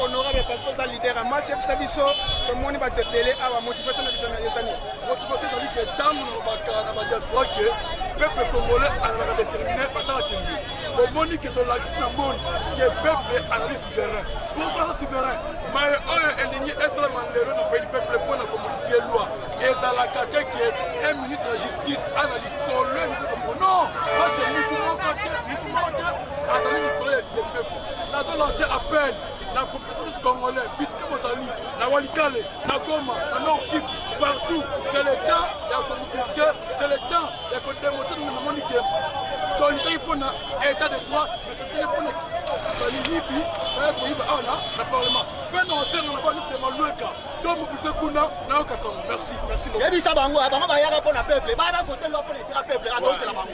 honorable parce que oza leader ya masi yebisa biso tomoni bato ebele awa motivation na biso na ezani motivation ezali ke ntango nalobaka na badiaspora ke peuple congolais azalaka déterminé batyaka tembe omoni ke tolakisi na monde ke peuple azali souverain pourkoi aza souverain maye oyo elingi esalama lelo na pays du peuple mpo na komodifie loi ezalaka te ke un ministre ya justice azali kolwe mikokombo non parce que mutu moko te mutu moko te azali likolo ya diembeko nazo lance appel na populations congolais bisque bozali na walikale na goma na nord kivu partout c'est le temps ya komobilise c'est le temps ya kodemote na mamoni ke tolitaki mpo na état de droit mais tolitaki mpo na baliyibi baya koyiba awa na na parlement mpe na osenga na banisi ya malweka to mobilise kuna nayoka sango merci yebisa bango bango bayaka mpo na peuple bana vote lwa mpo na etira peuple atozela bango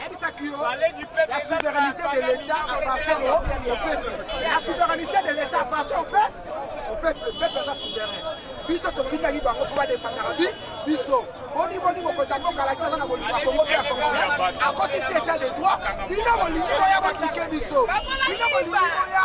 ayebisaki yo la souveraineté de l'état appartient au peuple la souveraineté de l'état appartient au peuple au peuple le peuple aza souverain biso totindaki bango mpo badefandaka bi biso boni boni mokonzi ya mboka alakisi aza na bolingo ya kongo mpe ya kongolais akotisi etat de droit bino bolingi boya botike biso bino bolingi boya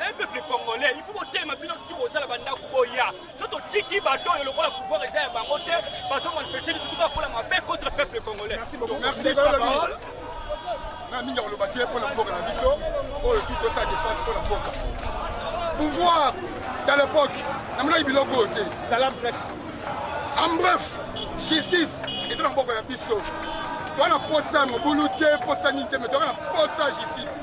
Un peuple congolais, il faut botelema bino tout bozala bandako boya to totiki bato oyo lokola pouvoir eza ya bango te bazo manifeste bitu tuka mpola mabe contre peuple congolais. Merci beaucoup. Merci de la parole. Na mingi akoloba te mpo na mboka na biso oyo tout osa defense mpo na mboka. Pouvoir dans l'époque namonaki biloko oyo te. Zala bref. En bref, justice eza na mboka na biso. Toa na posa ya mobulu te, posa nini te, mais toa na posa justice.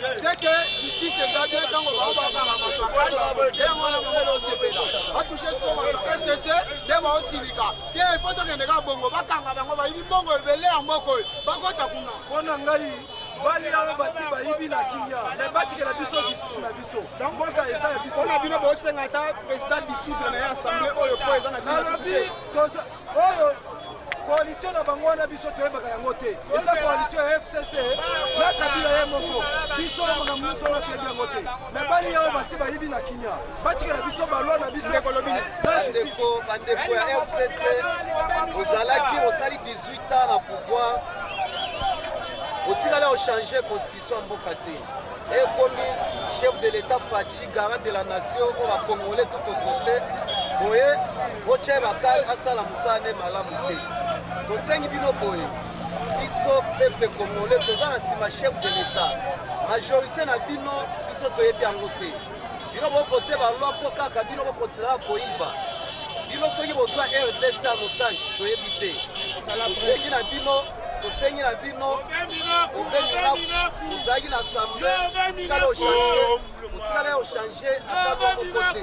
c'est que justice eza bien ntango bango bakanga matraquage nde yango wana bango baosepela batouche siko bato fcc nde baosilika te mpo tokende kaka bongo bakanga bango bayibi mbongo ebele ya mboko oyo bakota kuna mpo na ngai bali yango basi bayibi na kimia me batikela biso justice na biso mboka eza ya biso na bino bosenga ata président disciple na ye assemble oyo mpo eza na nalobi oyo koalisio na bango wana biso toyebaka yango te eza koalisio ya fcc na kabila ye moko biso makambo nyonso wana toyebi yango te me bali yango basi bayibi na kimia batikela biso balwa na biso bandeko ya fcc ozalaki osali 18 ans na pouvoir otikala ochange constitution ya mboka te ekomi chef de l'etat faci garant de la nation oyo bacongolais tout okote boye botya bakale asala mosala nde malamu te tosengi bino boye biso peuple congolais toza na nsima chef de l'etat majorité na bino biso toyebi yango te bino bokote balwa mpo kaka bino bokontinaka koyiba bino soki bozwa rdc en otage toyebi te tosengi na bino tosengi na bino ozalaki na sambe otikala ochange otikala ya ochange ata moko te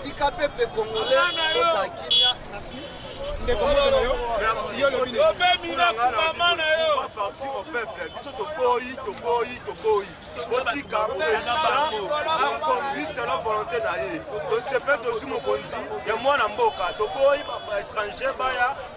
tika pepe congolais ozala kimia ndeko moto na yo merci yo lobi obe miracle mama na yo va partir au peuple biso toboyi toboyi toboyi botika président aconduit selon volonté na ye tosepe tozwi mokonzi ya mwana mboka toboyi baétranger baya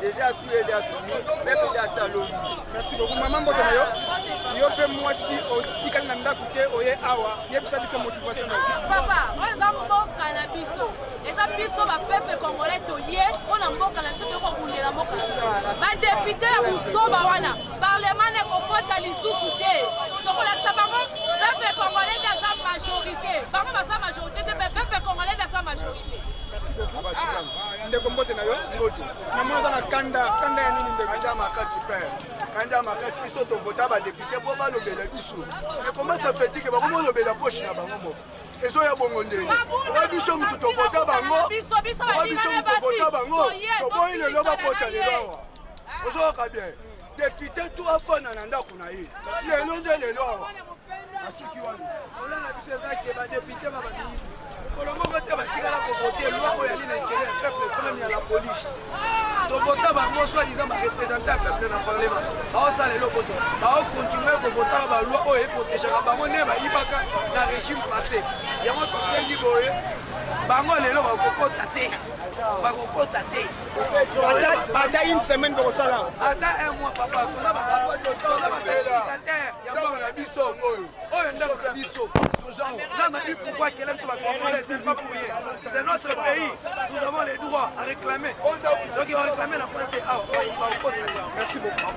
Déjà tout est déjà fini, même il y a salon. Merci beaucoup maman mbote na yo. Yo pe mwasi otikali na ndako te oye awa. Yebisa biso motivation na yo. Papa, oyo eza mboka na biso. Eza biso ba peuple congolais toye mpo na mboka na biso toye kobundela mboka na biso. Ba député ya buzoba wana, parlement na kokota lisusu te. Tokolakisa bango peuple congolais nde aza majorité. Bango baza majorité te, mais peuple congolais nde aza majorité. Merci beaucoup. Ah. Ndeko mbote na yo. Mbote. Na mona na kanda, kanda ya nini ndeko? Kanda makasi père. Kanda makasi biso to vota ba député po ba lobela biso. Mais comment ça fait que ba ko lobela poche na bango moko? ezo ya bongo ndenge oyo biso mutu tovota bango oyo biso mutu tovota bango toboyi lelo bakota lelo awa ozoyoka bien Depute tu afana na ndako na ye lelo nde lelo awa asuki wana ola na biso eza ke badepute ba bamiyibi mokolo moko te batikala kovote loi oyo yali na intere ya peuple ekonomi ya la police tovota bango soit disant barepresentant ya peuple na parlement baosala eloko te baokontinue kovotaka baloi oyo eprotegaka bango nde bayibaka na régime passé yango tosengi boye bango lelo bakokota te bakokota te ata une semaine tokosala ata un mois papa toza basaoza basater yango na biso oyo oyo ndako na biso nzambe abi pourkoi akela biso bacongolais c'est pas pour rien c'est notre pays nous avons les droits à réclamer donc oréclame na prince awa baokota merci beaucoup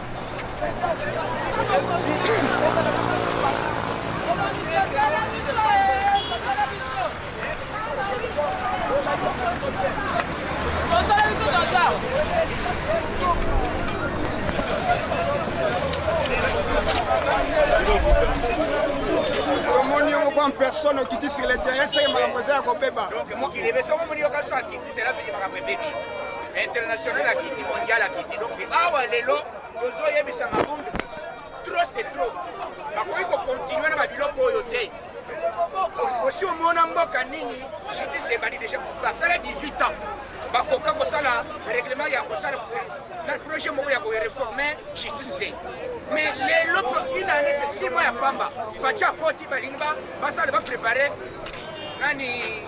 personne okiti sur le terrain seke makambo eza ya kobeba donc mokili ebe soko omoni yo kasi akiti sela fini makambo ebebi international akiti mondial akiti donc awa lelo tozoyebisa mabund trop c'est trop bakoki kokontinue na babiloko oyo te osi omona mboka nini justice ebandi deja basala 18 ans bakoka kosala règlement ya kosala na projet moko ya koreforme justice te mais lelo ina ane sesimo ya pamba faci akoti balingi basala baprépare nani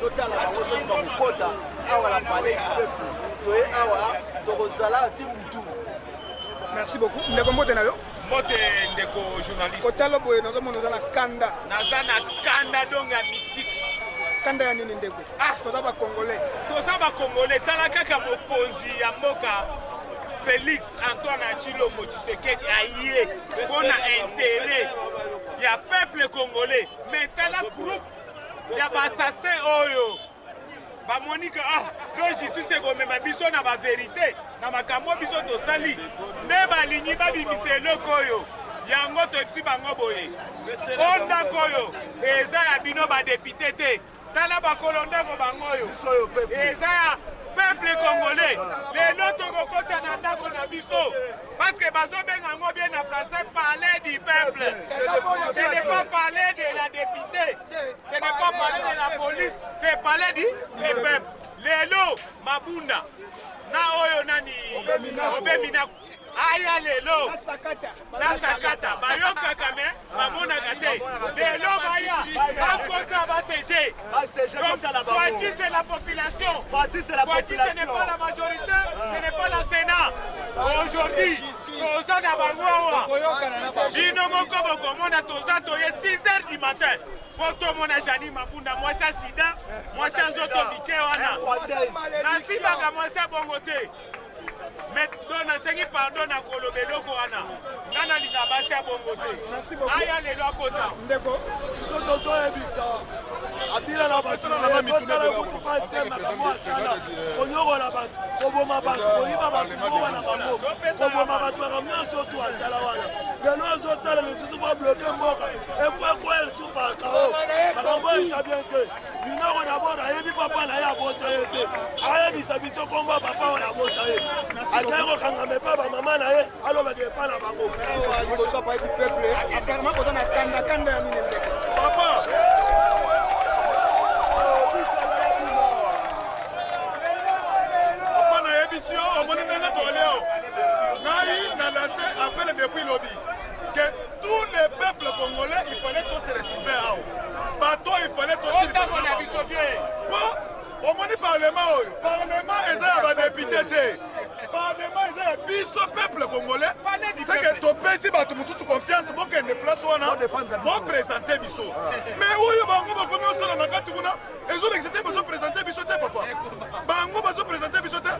totala bango soki bakokota awa na palais du peuple toye awa tokozala ti butu merci beaucoup ndeko mbote na yo mbote ndeko journaliste otala boye nazomona oza na kanda naza na kanda donc ya mystique kanda ya nini ndeko ah. toza bacongolais toza bacongolais tala kaka mokonzi ya mboka félix antoine achilombo tshisekedi aye mpo na intérêt ya peuple congolais mais tala groupe ya ba assassin oyo bamoni ke ah do justice ekomema biso na baverite na makambo biso tosali nde balingi babimisa eloko oyo yango toyebisi bango boye o ndako oyo eza ya bino badepute te tala bakolo ndako bango oyo eza ya peuple congolais lelo tokokota na ndako na biso Parce que bazo benga yango bien na français parler du peuple. Ce n'est pas parler de la députée. Ce n'est pas parler de la police. C'est parler du, du peuple. Lelo Mabunda na oyo nani Obeminaku aya lelo na sakata bayokaka me bamonaka te lelo baya bakota basege Fatsi c'est la population Fatsi c'est la population Fatsi ce n'est pas la majorité ce n'est pas la Sénat aujourd'hui toza na bango awa bino moko bokomona toza toye 6 heures du matin mpo tomona jani mabunda mwasi ya sida mwasi ya nzoto mike wana nasimbaka mwasi ya bongo te nasengi pardon na koloba eloko wana nga nalinga basi ya bongo te aya lelo akota ndeko biso tozoyebisa abila na batozala kutu pasi te makambo asala konyokola bato koboma bato koyiba bato mowa na bango koboma bato makambo nyonso otu asala wana lelo ezosala lisusu babloke mboka epo ekwelsu pakao makambo eza bien te Minoko d'abord ayebi papa na ye abota ye te ayebisa biso komba papa oyo abota ye akei kokangama epa bamama na ye alobaka epa na bango papa papa nayebisi yo omoni ndenge toleo ngai na lase apele depuis lobi Tous les peuples congolais, il fallait qu'on se retrouve awa. Bato il fallait qu'on se retrouve na bango. Po omoni parlement oyo, parlement eza ya ba député te. Parlement eza ya biso peuple congolais. C'est que topesi bato mosusu confiance bokende place wana bo présenter biso. Mais oyo bango bakomi osala na kati kuna ezo lekisa te bazo présenter biso te papa. Bango bazo présenter biso te.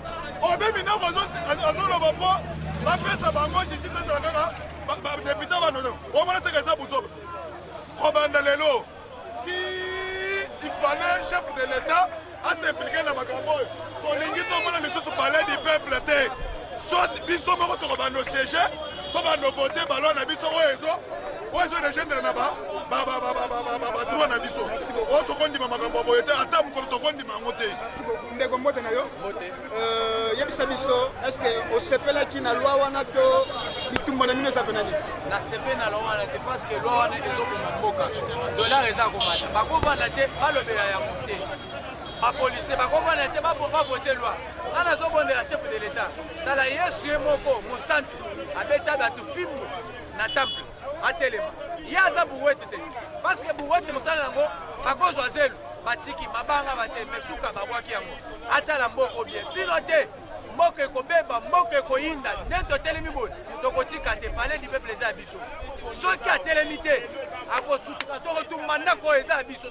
Obemi nako azo azoloba po bapesa bango justice ezala kaka badepute banono omona teke eza buzoba kobanda lelo ti ifale chef de l'etat asimplike na makambo oyo tolingi tomona lisusu palais du peuple te soit biso moko tokobanda osiege to banda vote baloi na biso oyo ezo oyo ezo regendre na badroit na biso oyo tokondima makambo ya boye te ata mokolo tokondima yango te Euh, yebisa biso est ce que osepelaki na loi wana to bitumba na bino eza mpe na nini nasepeli na loi wana te parce que loi wana ezoboma mboka dollar eza komata bakovanda te balobela yango te bapolisier bakovanda te bavote loi nga nazobondela chef de l'etat tala yesu ye moko mosantu abeta bato fimbo na temple atelema ye aza buwete te parceke buwete mosala yango bakozwa zelu batiki mabanga bate me suka babwaki yango atala mboka obie sino te mboka ekobeba mboka ekoyinda nde totelemi boye tokotika te palais du peuple eza ya biso soki atelemi te akosutuka tokotumba ndako oyo eza ya biso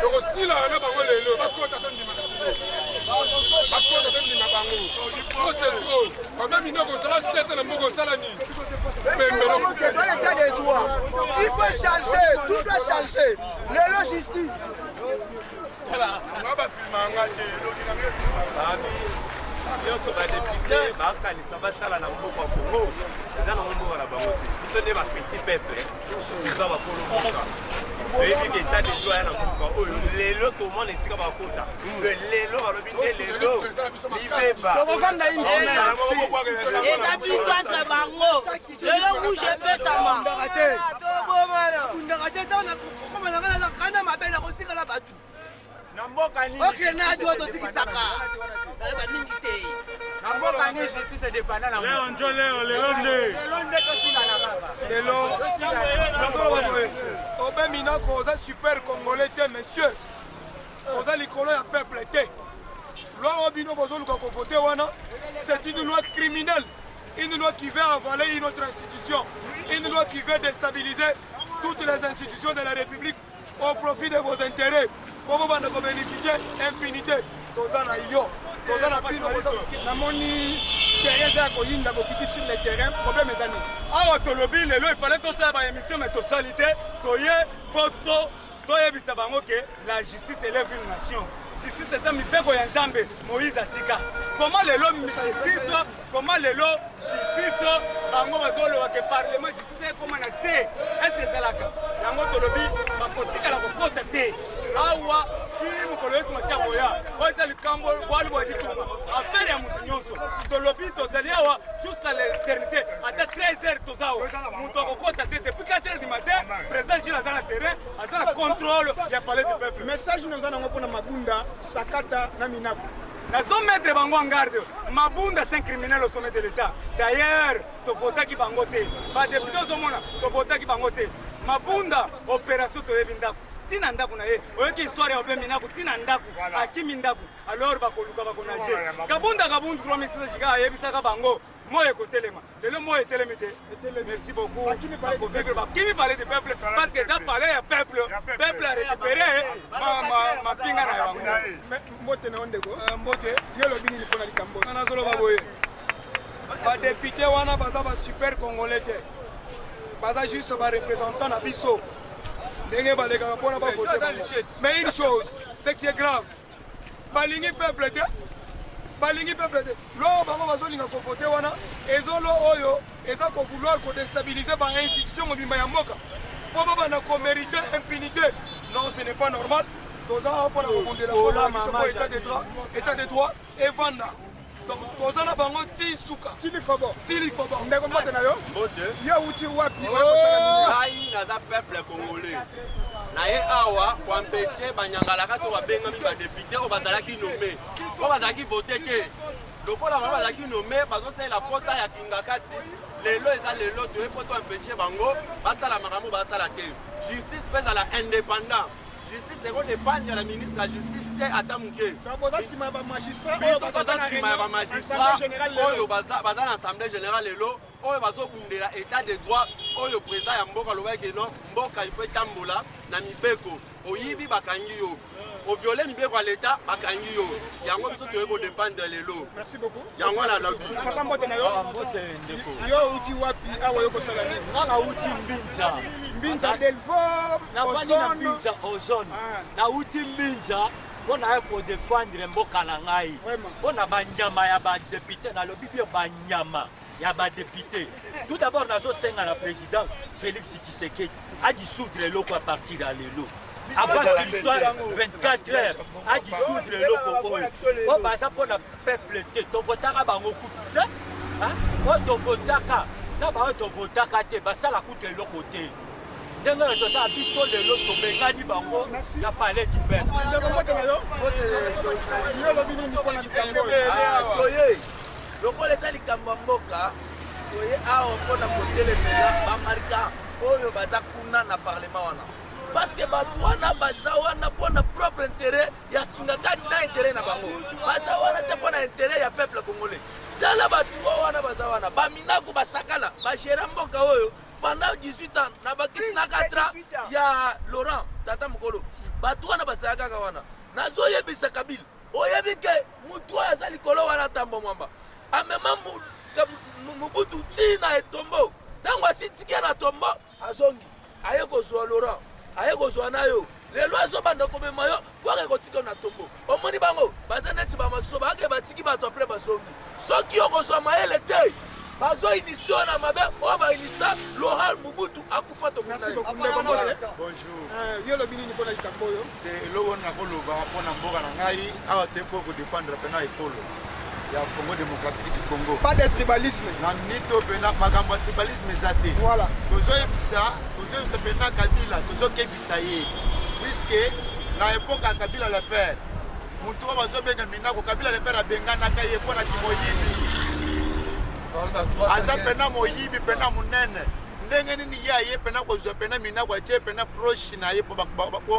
tokosilana na bango lelo bakota tondima bakota tondima bango ose tro baba mino kosala sete na mboka osala nini il faut changer tout doit changer lelo justice nyonso badepute bakanisa basala na mboka ya kongo eza na mboka na bango te biso nde bapetit peuple toza bakolo mboka oyebi ke etat de droit ya na mboka oyo lelo tomona esika bakota ke lelo balobi nde lelo libeba eza biso entre bango lelo rouge epesama tobomana kundaka te ntango nakokomanaka nazakana mabe nakotikala bato Na mboka nini? Okay, na dodo tikisaka. Ba mingi te. Na mboka nini justice dépendant na Leo njo leo lelo nde. Lelo nde to sila na baba. Lelo. Tazolo ba boye. Obe minako oza super congolais te monsieur. Oza likolo ya peuple te. Loi oyo bino bozoluka kovote wana c'est une loi criminelle une loi qui veut avaler une autre institution une loi qui veut déstabiliser toutes les institutions de la République au profit de vos intérêts po bobanda ko bénéficier impunité toza na yo toza na bino namoni teresa ya koyinda bokiti sur le terrain problème eza nini awa tolobi lelo efale tosala ba émission mais tosali te toye po to toyebisa bango ke la justice elève une nation justice eza mibeko ya nzambe moïse atika koma lelo justice koma lelo justice bango bazoloba ke parlement ekoma na se ese ezalaka yango tolobi bakotikala kokota te awa ti mokolo yesu masiya koya oyo eza likambo bwali bwa litunga afere ya moto nyonso tolobi tozali awa jusqu'à l'éternité ata 13 heures toza awa moto akokota te depuis 4 heures du matin président gile aza na terrain aza na contrôle ya palais du peuple message noza nango mpona mabunda sakata na minaku nazo mettre bango en garde mabunda c'est un criminel au sommet de l'état d'ailleurs Tovotaki bango te. Ba depute ozomona tovotaki bango te. Mabunda operation toyebi ndako tina ndako na ye oyoki histoire ya obembi ndako tina ndako akimi ndako alors bakoluka bakonage kabunda kabundu 3600 jika ayebisaka bango moi ekotelema lelo moi etelemi te merci beaucoup bakovivre bakimi palais du peuple parce que eza palais ya peuple peuple a récupéré mapinga na yango mbote na yo ndeko mbote yo olobi nini mpo na likambo nazoloba boye Ba députés wana baza ba super congolais te. Baza juste ba représentants na biso. Ndenge balekaka mpona ba voter bango. Mais une chose, ce qui est grave, balingi peuple te balingi peuple te loo bango bazolinga kovote wana ezo lo oyo eza kovouloir kodestabilize ba institution mobimba ya mboka mpo babanda komerite impunité non ce n'est pas normal toza mpona kobundela mpo na biso mpo état de droit evanda donc toza na bango ti suka tilifobo tilifobo ndeko mbote na yo mbote yo uti wapi oh! ngai naza peuple congolais na ye awa koampeshe banyangalaka to babengami badepute oyo bazalaki nome oyo bazalaki vote te lokola bango bazalaki nome bazosalela mposa ya kingakati lelo eza lelo toye mpo toampeshe bango basala makambo basala te justice mpe ezala indépendant justice eko dependre na ministre ya justice te ata moke biso toza nsima ya bamagistrat oyo baza na assemblée générale lelo oyo bazobundela état de droit oyo président ya mboka alobaki eno mboka ifo etambola na mibeko oyibi bakangi yo oviole mibeko ya leta bakangi yo yango biso toyei kodefendre lelo yango wana alobi papa mbote na yo ah, mbote ndeko yo uti wapi awa yo kosala nini nga nauti mbinza mbinza delvom nafandi na mbinza ozone ah. nauti mbinza mpo naye kodefendre mboka na ngai mpo na banyama ya badepute nalobi bio banyama ya badepute tout d'abord nazosenga na président félix tshisekedi adissoudre eloko à partir ya lelo avant qu'il soit 24 heures adissoudre eloko oyo oyo baza mpo na peuple te tovotaka bango kutu te oyo tovotaka na baoyo tovotaka te basala kutu eloko te ndenge oyo tozala biso lelo tobengani bango na palais du pepletoye lokola eza likambo ya mboka toye awa mpo na kotelemela bamarka oyo baza kuna na parlement wana parce que bato wana baza wana mpo na propre interet ya kingakati na interet na bango baza wana te mpo na interet ya peuple congolais tala bato oyo wana baza wana baminako basakana bagera mboka oyo pendant 18 ans na bakisi na 4 ans ya laurent tata mokolo bato wana bazala kaka wana nazoyebisa kabila oyebi ke motu oyo aza likolo wana tambo mwamba amema mobutu tii na etombo ntango asitikia na tombo Azongi aye kozwa Laurent, aye kozwa nayo lelo azobanda komema yo kwaka ekotika na tombo omoni bango baza neti bamasusu baake batiki bato apres bazongi soki okozwa mayele te bazo inisio na mabe oyo bainisa loral mobutu akufa tokunayo te eloko wana nakoloba mpo na mboka na ngai awa te mpo kodefendre mpena ekolo ya congo démocratique du congo pas de tribalisme na minute oyo mpena makambo ya tribalisme eza te voilà tozoyebisa tozoyebisa mpena kabila tozokebisa ye puiske na epoka ya kabila le père motu oyo bazobenga minako kabila le père abenganaka ye mpo na kimoyibi aza mpena moyibi mpena monene ndenge nini ye aye mpena kozwa mpena minako atye mpena proche na ye po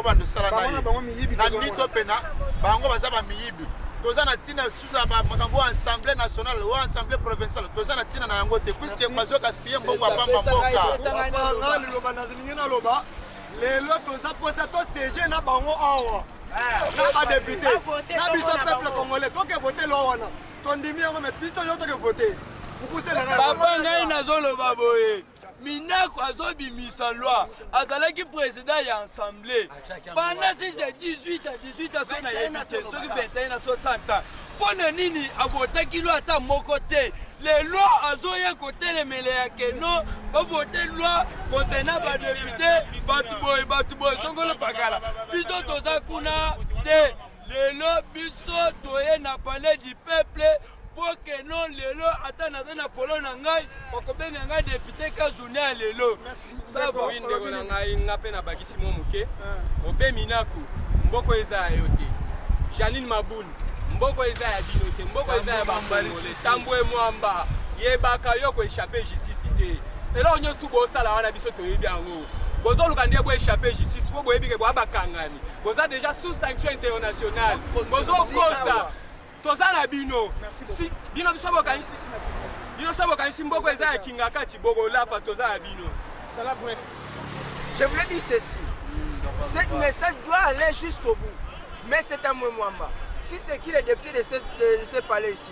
banda osala na ye na mito mpena bango baza bamiyibi toza na ntina susu ya makambo oyo assemblée nationale oyo assemblée provinciale toza na ntina na yango te puiske bazo gaspille mbongo ya pamba mboka liloba nalingi naloba lelo toza mposa tosege na bango awa eh. na badepute na biso peuple congolais toke vote loo wana tondimi yango me biso yo toke vote papa ngai nazoloba boye minako azobimisa loi azalaki président ya assemblée pendant 6 ya 18 a 18 aso na yebi te soki 21 na 60 ans mpo na nini avotaki loi ata moko te lelo azoya kotelemela ya keno bavote loi concernant badepute bato boye bato boye songolo pakala biso toza kuna te lelo biso toye na palais du peuple mpo ke non lelo ata naza na polo na ngai bakobenga ngai depute kazuni ya lelo saboyi ndeko na ngai nga mpe nabakisi mwa moke ah. obe minaku mboko eza ya yo te janine mabuni mboko eza ya bino te mboko eza ya bambangole tambwe mwamba yebaka yo koechape justice te eloko nyonso tu bosala wana biso toyebi yango bozoluka nde bo échappe justice mpo boyebi ke boya bakangani boza déjà sous sanction internationale bozokosa toza na bino bino biso bokanisi bino so bokanisi mboko eza ya kingakati bokolapa toza na bino je voulais dire ceci cette message doit aller jusqu'au bout mais c'est un mwemwamba si c'est qui le député de ce, de ce palais ici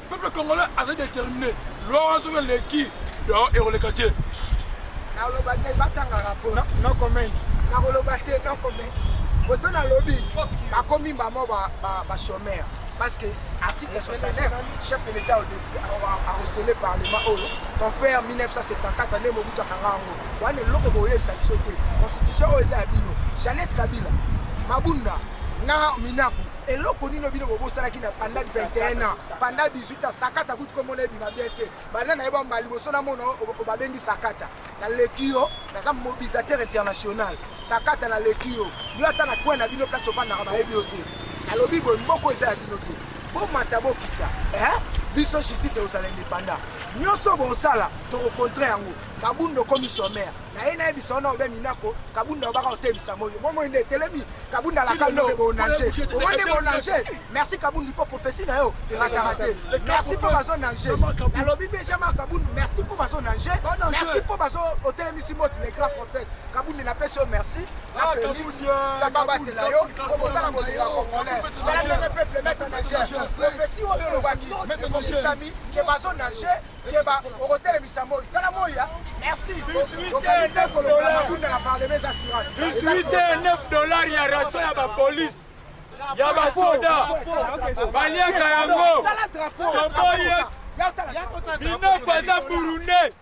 Peuple congolais azali determine. Loi wana soki eleki, donc ekoleka te. Nakoloba te, batanga rapport. No, no comment. Nakoloba te, no comment. Boso nalobi, bakomi bamo ba, ba, ba chômeur. Parce que article 69, chef de l'État a recelé parlement oyo, qu'on fait en 1974, année Mobutu akanga yango. Wana eloko boyebisa biso te. Constitution oyo eza ya bino. Jeannette Kabila, Mabunda, na Minaku, eloko nino bino bobosanaki na panda 21 ans panda 18 ans sakata kutu komona ebima bien te banda na ye bamba liboso na mona obabengi sakata naleki yo naza mobilisateur international sakata naleki yo yo ata na coin na bino place ofandaka bayebi yo te alobi boye mboko eza ya bino te bomata bokita biso justice ekozala indépendant nyonso bosala tokokontre yango kabunda okomi chomere na ye nayebisa wana obe minako kabunda obaka otemisa moyo bomoi nde etelemi kabunda la kando bonange omoni bonange merci kabundi mpo profesi na yo erataka te merci mpo bazo nange nalobi deja ma kabundu merci mpo bazo nange merci mpo bazo otelemisi moti le grand prophète kabundi napesi yo merci na ah, félix tata euh, batela yo okosala kolela congolais tala ndenge peuple meta nage profesi oyo olobaki ekomisami ke bazo nange Keba okotelemisa moi tala moi ya merci okanisa ekolokola mabunda na parlema eza assurance 9 dollars ya ration ya bapolice ya basoda baliaka yango toboye minoko aza burundais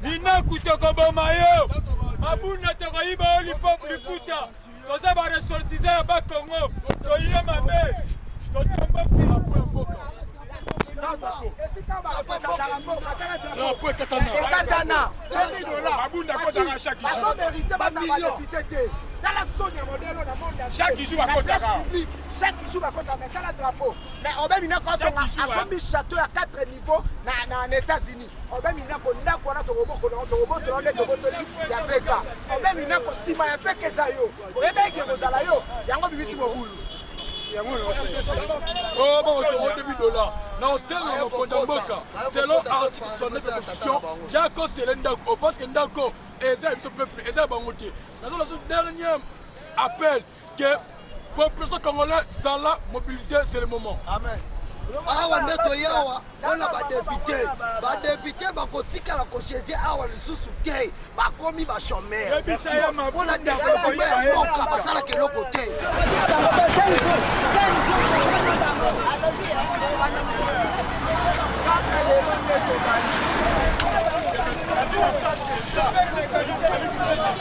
minoko tokoboma yo mabunda tokoyiba yo liputa toza ba ressortissants ya ba Congo toye mabe totomboki drapeau ekatana basomerite baza badepute te tala soni ya modelo na mondeplace publique chaque jour bakotaka tala drapeau mais obeni nekotonga asombi chateau ya 4 niveau na états-unis obe minako ndako wana tokobokola yango tokobotola nde tobotoli ya veka obe minako nsima ya veka eza yo oyebi eke kozala yo yango bimisi mobulu oyo bakotongo debi dola na hostel na mokonzi ya mboka selo article 69 ya constitution ya kosele ndako o parce que ndako eza ya biso peuple eza ya bango te nazala so dernier appel que population congolais zala mobilise c'est le moment amen awa nde toye awa mpona badepute badepute bakotikala kogeze awa lisusu te bakomi bachomere mpona developpema ya mboka basalaka eloko te Thank you.